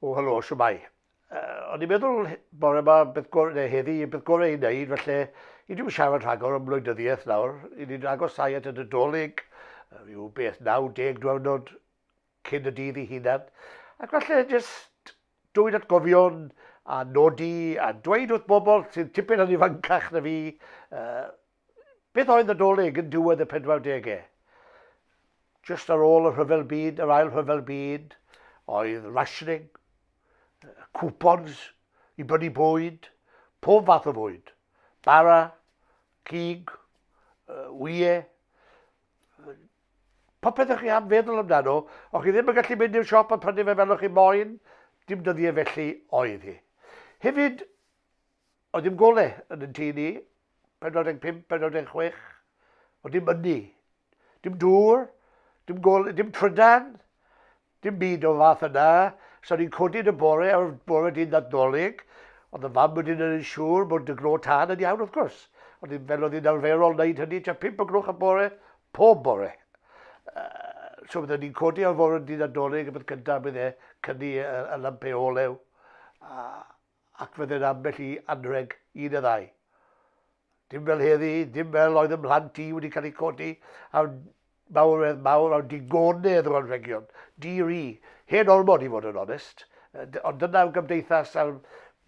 O, helo, siwmai. Uh, o'n i'n meddwl bore yma beth gorau, neu heddi, beth gorau i wneud, felly i ddim siarad rhagor am wleidyddiaeth nawr, i ni'n agosau at y Nadolig, rhyw beth 90 diwrnod cyn y dydd i hunan, ac felly jyst dwyd atgofion a nodi a dweud wrth bobl sy'n tipyn yn ifancach na fi, uh, Beth oedd Nadolig yn diwedd y pedwardegau? Just ar ôl y rhyfel byd, yr ail rhyfel byd, oedd rationing, coupons i brynu bwyd, pob fath o fwyd, bara, cig, wyau, popeth ych chi am feddwl amdano, o'ch chi ddim yn gallu mynd i'r siop a prynu fe fel o'ch chi moyn, dim dyddiau felly oedd hi. Hefyd, Oedd dim gole yn yn tŷ ni, 45, 46, oedd dim ynni. Dim dŵr, dim gole, dim trydan, dim byd o'r fath yna. So ni'n codi yn y bore, ar bore dydd Nadolig, oedd y fam wedyn yn siŵr bod y glo tân yn iawn wrth gwrs. Oedd hi'n fel oedd hi'n arferol wneud hynny, tua pimp o glwch y bore, pob bore. so byddwn ni'n codi ar fore dydd Nadolig, y bydd cyntaf bydd e cynni y, y lampeu olew. A, ac fe dded ambell i anrheg un y ddau. Dim fel heddi, dim fel oedd y mhlant i wedi cael eu codi a mawredd mawr a digonedd o anrhegion. Di-ri, hen ormod i fod yn onest, ond dyna'r gymdeithas a'r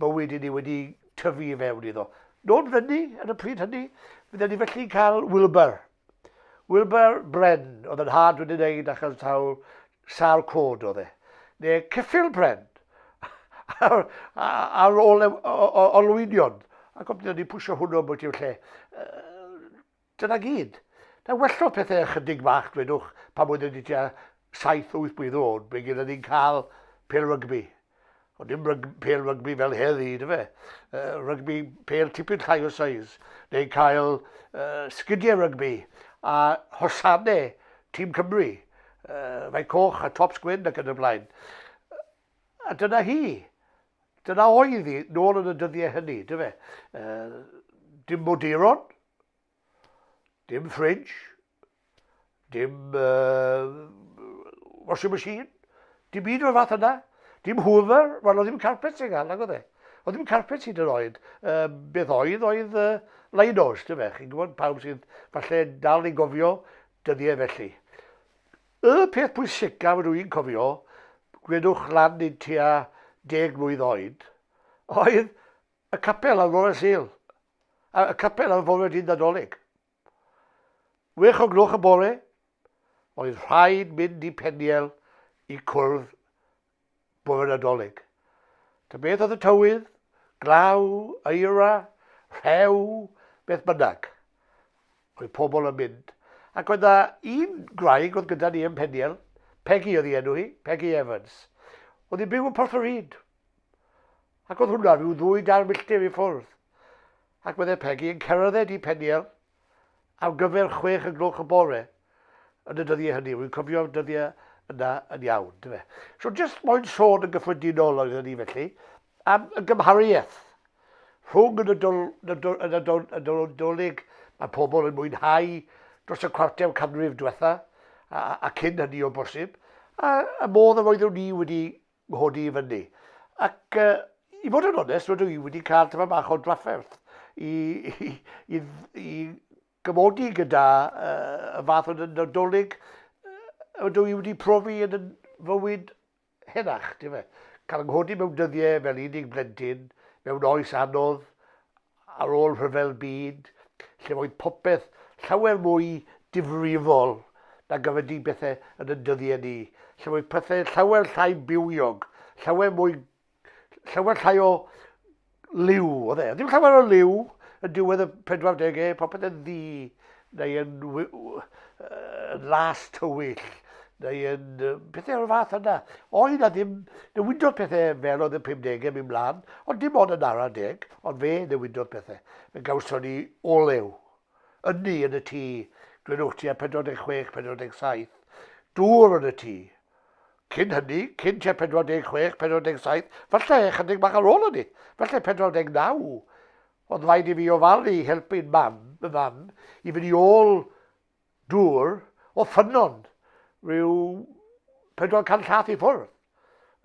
bywyd i ni wedi tyfu i fewn iddo. Nôl fyny, ar y pryd hynny, fydden ni felly'n cael Wilbur Wilbur Bren oedd yn nhad wedi wneud achos taw sâl cod oedd e. Neu Cyffil Bren ar, ar ôl e, olwynion. A gofnod ni pwysio hwnnw bod i'w lle. Dyna gyd. Na wellodd pethau ychydig bach, dwedwch, pan oedd wedi tua 7-8 blwydd o'n, fe gyda ni'n cael pel rygbi. Ond dim ryg, pel rygbi fel heddi, dy fe? Uh, rygbi pel tipyn llai o size, neu cael uh, sgidiau rygbi a hosanau tîm Cymru, uh, fai coch a tops gwyn ac yn y blaen. A dyna hi. Dyna oedd hi, nôl yn y dyddiau hynny, dy fe? Uh, dim moduron, dim fridge, dim uh, washing machine, dim un o'r fath yna, dim hoover, wel, oedd ddim carpet sy'n gael, nag oedd e. Oedd ddim carpet sy'n yr oed. Uh, beth oedd, oedd uh, Linos, dim fe, chi'n gwybod pawb sydd falle dal yn gofio dyddiau felly. Y peth pwysicaf rydw i'n cofio, gwedwch lan i'n tua deg mlwydd oed, oedd y capel ar Lawrence Hill, y capel ar Fowler Dyn Nadolig. Wech o gloch y bore, oedd rhaid mynd i Peniel i cwrdd bore Nadolig. Ta beth oedd y tywydd, glaw, eira, rhew, beth bynnag. Oedd pobl yn mynd. Ac oedd na un graig oedd gyda ni yn Peniel, Peggy oedd ei enw hi, Peggy Evans. Oedd hi'n byw yn Porth yr Hyd. Ac oedd hwnna rhyw ddwy dair milltir i ffwrdd. Ac meddai Pegi yn cerdded i Peniel ar gyfer chwech y gloch y bore yn y dyddiau hynny. Rwy'n cofio'r dyddiau yna yn iawn. Dyfe. So jyst moyn sôn yn gyffredinol oedden ni felly am y gymhariaeth rhwng y Nadolig mae pobl yn mwynhau dros y cwarter canrif diwetha a, a, a cyn hynny o bosib, a y modd yr oeddwn ni wedi nghodi i fyny. Ac uh, i fod yn onest, rydw i wedi cael tyfa bach o drafferth i, i, i, i gymodi gyda uh, y fath o nadolig ydw i wedi profi yn y fywyd henach, ti'n fe? Cael nghodi mewn dyddiau fel unig blentyn, mewn oes anodd, Ar ôl Rhyfel Byd, lle roedd popeth llawer mwy difrifol nag a ydy pethau yn ein dyddiau ni, lle roedd pethau llawer llai bywiog, llawer mwy... llawer llai o liw, oedd e? Oedd dim llawer o liw yn diwedd y 40au, popeth yn ddu, neu yn, yn las tywyll, neu yn pethau o'r fath yna. Oedd na ddim, newidodd pethau fel oedd y 50au mynd mlaen, ond dim ond yn ara deg, ond fe newidodd pethau. Fe gawson ni olew, ynni yn y tŷ, glynwch ti a 46, 47, dŵr yn y tŷ. Cyn hynny, cyn tua 46, 47, falle chydig bach ar ôl hynny, falle 49, Oedd rhaid i fi ofalu i helpu'n mam, fy mam, i fynd i ôl dŵr o ffynnon rhyw 400 llath i ffwrdd.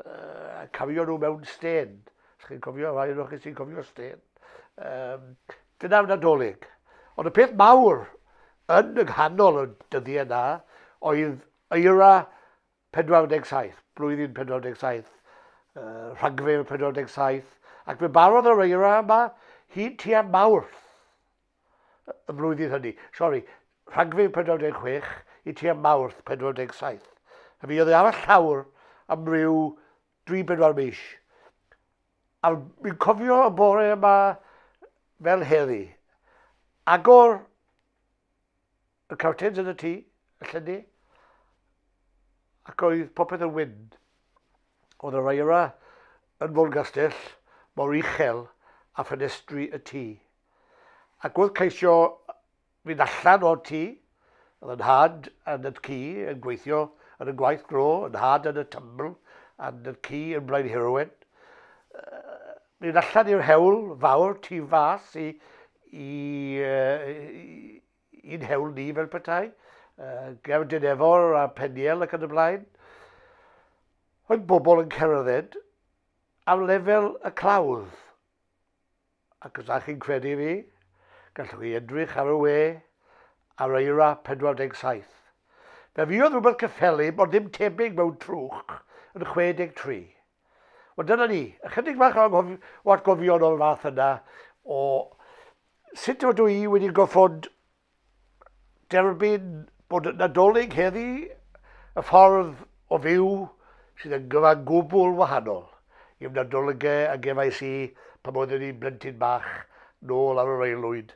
Uh, a cafio nhw mewn stên. Os chi'n cofio, rhai o'r chi sy'n cofio stên. Um, dyna fy nadolig. Ond y peth mawr yn y nghanol y dyddiau yna oedd eira 47, blwyddyn 47, rhagfyr 47, ac fe barodd yr eira yma hyd tua Mawrth y flwyddyn hynny. Sori, rhagfyr 46 i tua Mawrth 47. A mi oedd e ar y llawr am ryw 3-4 mis. A mi'n cofio y bore yma fel heddi. Agor Y cawtins yn y tŷ, y llenni, ac oedd popeth yn wyn. Oedd y raera yn folgastell mor uchel a ffenestri y tŷ. Ac oedd ceisio fynd allan o'r tŷ, oedd yn had yn y ci yn gweithio yn y gwaith gro, yn had yn y tymbl, yn y ci yn blaen heroen. Mynd allan i'r hewl fawr, tu fas i, i, i, I'n hewl ni fel petai, uh, gefn Dinefor a Peniel ac yn y blaen, oedd bobl yn cerdded am lefel y clawdd. Ac os ydych chi'n credu fi, gallwch chi edrych ar y we ar eira 47. Fe fuodd rhywbeth cyffelyb ond ddim tebyg mewn trwch yn 63. Wel dyna ni, ychydig bach o atgofion o'r fath yna o sut ydw i wedi goffod derbyn bod yn Nadolig heddi y ffordd o fyw sydd yn gyfan gwbl wahanol i'm Nadolygau a gefais i pan oeddwn i'n blentyn bach nôl ar yr aelwyd